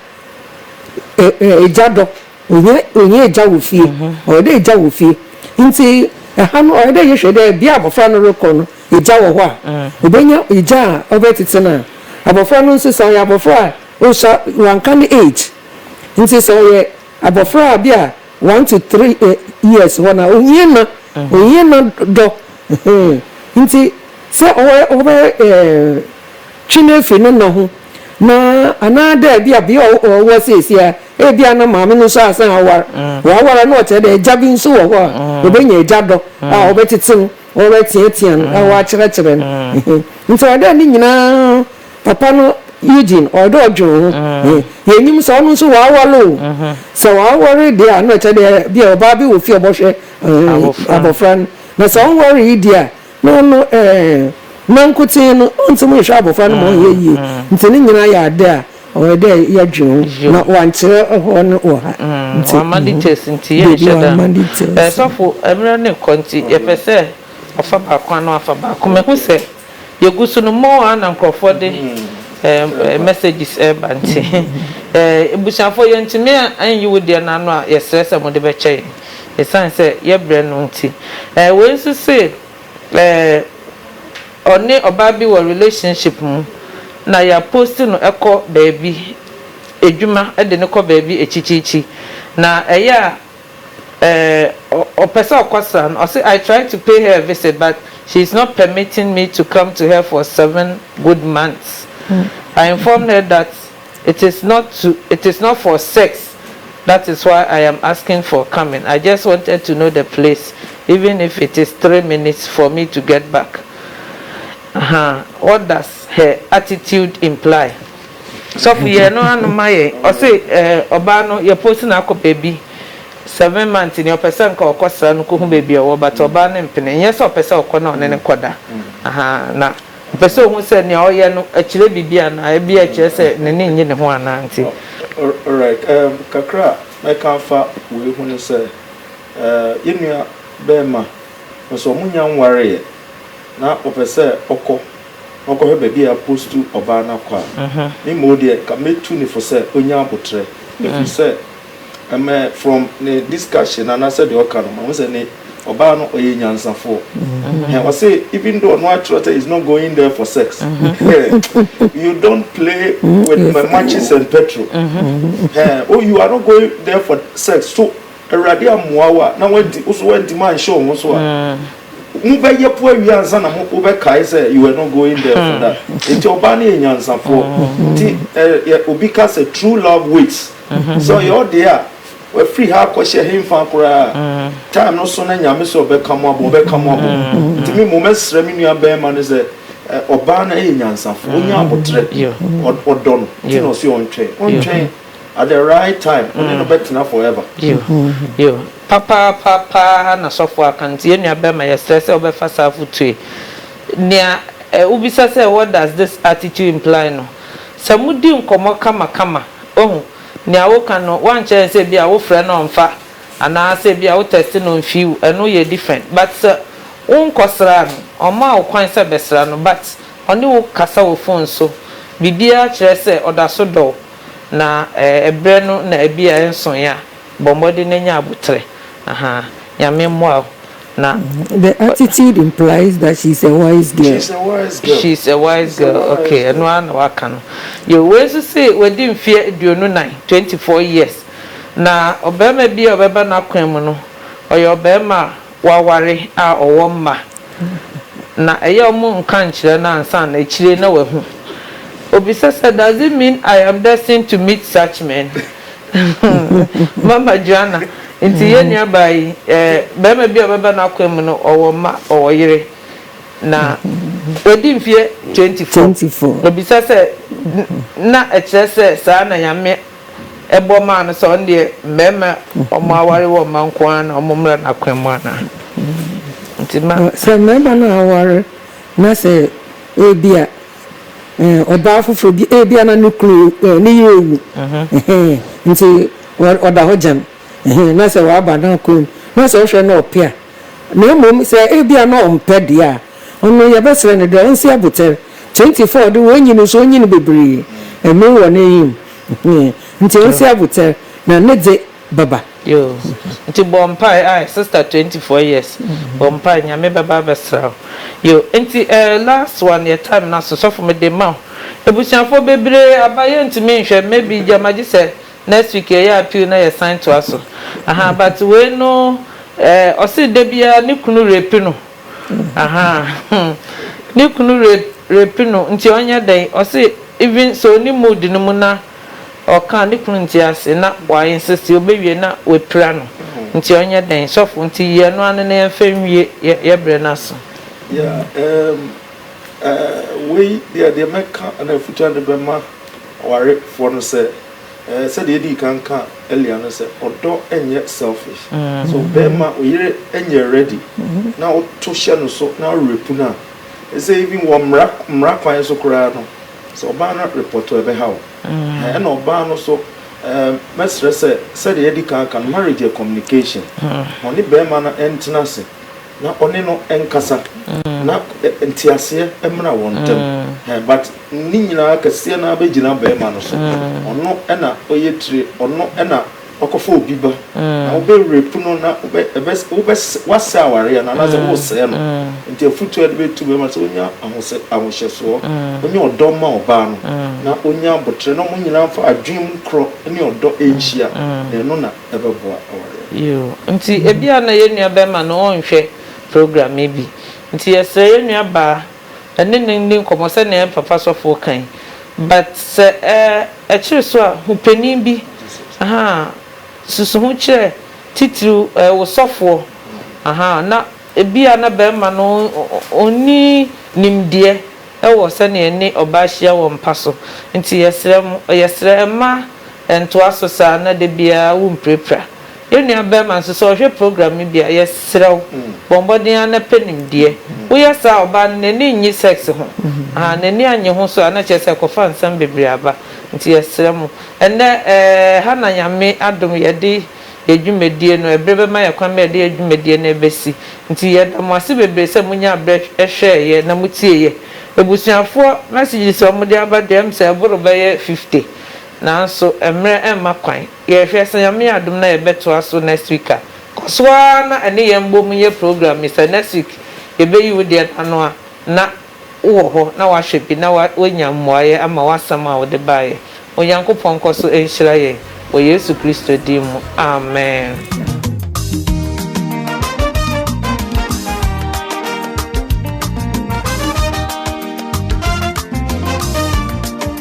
Egya dɔ, ohia ohia egya wɔ fie, ɔwɔ dɛ egya wɔ fie. Ntsi ha no ɔwɔ dɛ yɛhwɛ dɛ bea a abɔfra no rokɔ no egya wɔ hɔ a, obenya egya a ɔbɛtsetse no a. Abɔfra no so, sɛ ɔyɛ abɔfra a osuar, ɔannka ne age, ntsi sɛ ɔyɛ abɔfra a bi a one to three years hɔ no a, ohia nã, ohia nã dɔ, ntsi sɛ ɔbɛyɛ. twe no firi ne nna ho, na anaadɛ ebia bea a ɔwɔ seesei a, ebia na maame no so asan awar. Ɔawar a, nna ɔkyerɛ dɛ egya bi so wɔ hɔ a obenya egya dɔ a ɔbɛtsetse no, ɔbɛtseatsea no, na ɔakyerɛkyerɛ no. Ntsi ɔwɔ dɛ ne nyina papa no, Eugene, ɔwɔ dɛ ɔdwen ho. Yennyim sɛ ɔno so ɔawar o. Sɛ ɔawar dze a, nna ɔkyerɛ dɛ bi a ɔbaa bi wɔ fie a ɔbɔhwɛ abofra no. Na sɛ ɔnnwaree dze a, No no ɛɛ, nankotsee no, ɔnnsɛ mu nhwɛ abofra no ma ɔnnyɛ yie. Ntsi ne nyina yɛ adze a ɔwɔ dɛ yɛdwen ho, na wɔannkyerɛ hɔ no wɔ ha. Ntsi, Wɔamma details nti yɛnnhyɛ da. Dabi, wɔamma details. Ɛɛ, sɔfo, mber no rokɔ ntsi, yɛpɛ sɛ ɔfa baako anaa ɔafa baako. Mehu sɛ yegu so no, more ara na nkorɔfoɔ de ɛɛ messages reba ntsi, ɛɛ ebusuafoɔ, yɛnntumi annyi wo deɛ no ano a, yɛsrɛ sɛ mode bɛkyɛ yɛn. Esiane sɛ yɛbrɛ no nti. Ɛɛ wei nso se ɛɛ ɔne ɔbaa bi wɔ relationship mu na yɛ post no kɔ baabi, adwuma de no kɔ baabi akyikyikyi na ɛyɛ a ɛɛ ɔpɛ sɛ ɔkɔ sra no, ɔse I tried to pay her a visit but she is not permitting me to come to her for seven good months. I informed her that. It is not to it is not for sex that is why I am asking for coming I just wanted to know the place even if it is three minutes for me to get back ahaa what does her attitude imply? Sɔfo yɛ no ano ma yɛn ɔse eh ɔbaa no yɛ post no akɔ baabi seven months ni ɔpɛ sɛ nka ɔkɔ sra no kɔhu baabi ɔwɔ but ɔbaa no mpene nyɛ sɛ ɔpɛ sɛ ɔkɔ na ɔne no kɔda ahaa na Ɔpɛ sɛ ohu sɛ nea ɔyɛ no kyerɛ biribi anaa, ebia ɛkyerɛ sɛ n'ani nnye ne ho anaa nti. Alright, um kakra a mɛka afa wei ho ne sɛ, uh yɛn nua barima, ɔpɛ sɛ wɔn nnya nwareeɛ, na ɔpɛ sɛ ɔkɔ na ɔkɔhwɛ baabi a yɛapostu ɔbaa no akɔ a, me mmom deɛ nka mɛtu no fo sɛ ɔnya aboterɛ, ɛfiri sɛ. Ɛmɛ from ne discussion anaasɛ deɛ ɔka no ma ho sɛ ne ɔbaa no ɔyɛ nyansafoɔ mm-hmm. ɔse even though ɔno akyerɛ sɛ is not going there for sex mm-hmm. you don't play mm-hmm. with my matches and petrol oh you are not going there for sex so awurade amoa wo a na wadi woso wadi ma nhyɛ wo ho so a mm. mobɛyɛ po awie ansa na wobɛkae sɛ you are not going there for that nti ɔbaa no yɛ nyansafoɔ nti obi ka sɛ true love waits Sɛ ɔyɛ wo dea a, wafiri ha akɔhyɛ henfa koraa? Time no so na Nyame sɛ ɔbɛka mo abom, ɔbɛka mo abom. Nti me mmom mɛsrɛ me nua bɛɛma no sɛ, ɛ, ɔbaa no yɛ nyansafo, ɔnya aboterɛ, ɔ, ɔdɔ no, nti na ɔse ɔntwɛn. Ɔntwɛn, at the right time, ɔne no bɛtena forever. Yo, papaapa paa na sɔfo aka no, nti yɛn nua bɛɛma yɛsrɛ sɛ wobɛfa saa afotuo yi. Nea, ɛ, wobisa sɛ what does this attitude imply no, sɛ modi nkɔmmɔ kamakama, Woahu, nea woka no, woankyerɛ yɛn sɛ ebia wofrɛ no ɔmmfa, anaa sɛ ebia wo text no mfiw, ɛno yɛ different, but sɛ wo nkɔsraa no, ɔmmaa wo kwan sɛ bɛsra no, but ɔne wo kasa wɔ phone so, biribiara kyerɛ sɛ ɔda so dɔ wo, na ɛɛ, ɛbrɛ no na ebia ɛnsoe a. Bɔ mmɔden na nya aboterɛ. Ahaa. Nyame mmoa wo. Na. The attitude implies that she is a wise girl. She is a wise girl, ok, ɛno ara na waka no. Yo, wei nso se wadi mfeɛ aduonu nan, twenty four years, na ɔbarima bi a ɔbɛba n'akwan mu no, ɔyɛ ɔbarima a. wɔaware a ɔwɔ mma na ɛyɛ a ɔmo nka nkyerɛ no ansa na akyire na wahu. Obisa sɛ, Does it mean I am destined to meet such men? Mama Joanna, Nti yɛn nuabaa yi, eh, barima bi a ɔbɛba n'akwan mu no, ɔwɔ mma, ɔwɔ yere, na wadi mfeɛ twenty four. Obisa sɛ, Na ɛkyerɛ sɛ saa na Nyame bɔ maa no sɛ ɔno deɛ mmarima a wɔaware wɔn mma nko ara na wɔmmra n'akwan mu anaa? Nti ma. Sɛ mmarima no a aware na sɛ ebia ɔbaa foforɔ bi, ebia na ne kunu, ne yere awu, nti ɔda hɔ gyam, na sɛ waba n'akwan mu, na sɛ wohwɛ na ɔpɛ a, na mmom sɛ ebia na ɔmpɛ deɛ a, Ɔno yɛbɛserɛ no dɛ ɔnsi abotsɛr twenty four do onyin nso onyin beberee mber wɔ n'enyim ntsi ɔnsi abotsɛr na ne dze bɛba. Yoo nti bɔ mpae ae sister twenty four years bɔ mpae nyame bɛba abɛsra wo yoo nti eh last one yɛ time no aso sɔfo mede ma wo ebusuafoɔ bebree aba yɛntumi nhwɛ maybe gyama gyesɛ next week yɛyɛ appeal na yɛsan toa so ahaa but wei no eh ɔse dabiaa ne kunu rape no. Ahaa ne kunu rape no nti ɔnyɛ dɛn ɔse even sɛ ɔni mood no mu na ɔka a ne kunu nte ase na wa insist ɔbɛwie na wapira no nti ɔnyɛ dɛn sɔfo nti yi ɛno ano na yɛnfa nwie yɛ brɛ no aso. Yeah ehm eh wei deɛ deɛ mɛka ɛna afutuade bɛma awarefoɔ no sɛ. Sɛdeɛ yɛdii kan kaa earlier no sɛ ɔdɔ nyɛ selfish so bɛrima oyere nyɛ ready na woto hyɛ no so na worepu no a ɛsɛ even wɔ mmara mmara kwan so koraa no sɛ ɔbaa no repɔtɔ ɛbɛha wo ɛna ɔbaa no so mɛsrɛ sɛ sɛdeɛ yɛdi kan ka no marriage yɛ communication ɔne bɛrima no ɛntena ase na ɔne no nkasa mm. na eh, nteaseɛ mmra wɔn ntam mm. eh, but ne nyinaa kɛseɛ no abɛgyina bɛrima no so mm. ɔno ɛna ɔyɛ tire ɔno ɛna wakɔfa obi ba na wobɛwerɛpu no na woasɛ awareɛ no anaasɛ wosɛɛ no nti afotuo de bɛtu bɛrima sɛ ɔnya ahohyɛsoɔ ɔnya ɔdɔ ma ɔbaa no na ɔnya aboterɛ na ɔmo nyinaa fa adwene mu korɔ ne ɔdɔ ɛnhyia na ɛno na bɛboa awareɛ no. Yiw, nti ebia na yɛn nuabɛrima no nhwɛ program yi bi. Nti yɛsrɛ yɛn nuabaa, ɛne no nni nkɔmmɔ sɛnea yɛn papa sɔfo ka yi. But sɛ ɛ, ɛkyere so a, hu panin bi, ahaa, susu ho kyerɛ titiriw ɛ, wo sɔfoɔ, ahaa, na ebia na barima no ɔnni nimdeɛ. wɔ sɛnea ɛne ɔbaa hyia wɔ mpa so. Nti yɛsrɛ mo, yɛsrɛ, mma ɛntoa so saa na da biara wompirapira. Yɛn nua barima nso, sɛ ɔhwɛ program no bi a, yɛsrɛ wo, bɔ mmɔden ara na pɛ nimdeɛ. Woyɛ saa a, ɔbaa no, n'ani nnye sex ho. Ahaa, n'ani annye ho so a, na kyerɛ sɛ ɛkɔfa nsɛm bebree aba. Nti yɛsrɛ mo. Ɛnnɛ, ɛɛ, ha na Nyame adom yɛde. yɛ dwumadie no, ɛberɛ bɛma yɛn kwan ma yɛde yɛn dwumadie no bɛsi. Nti yɛda mo ase bebree sɛ monyaa berɛ hwɛeɛ na motieeɛ. Abusuafoɔ no asigyedeɛ a wɔde aba deɛ, ɛm sɛ ɛboro bɛyɛ 50, nanso mmerɛ mma kwan. Yɛhwɛ, sɛ Nyame yɛ adom na yɛbɛtoa so next week a, kɔ so ara na ɛne yɛn bom nyɛ program yi. Sɛ next week yɛbɛyi wo deɛ no ano a, na. wowɔ hɔ na wahwɛ bi na woanya mmuaeɛ ama w'asɛm a wode baeɛ. Onyankopɔn nkɔ so nhyira yɛn wɔ Yesu Kristo din mu, amen.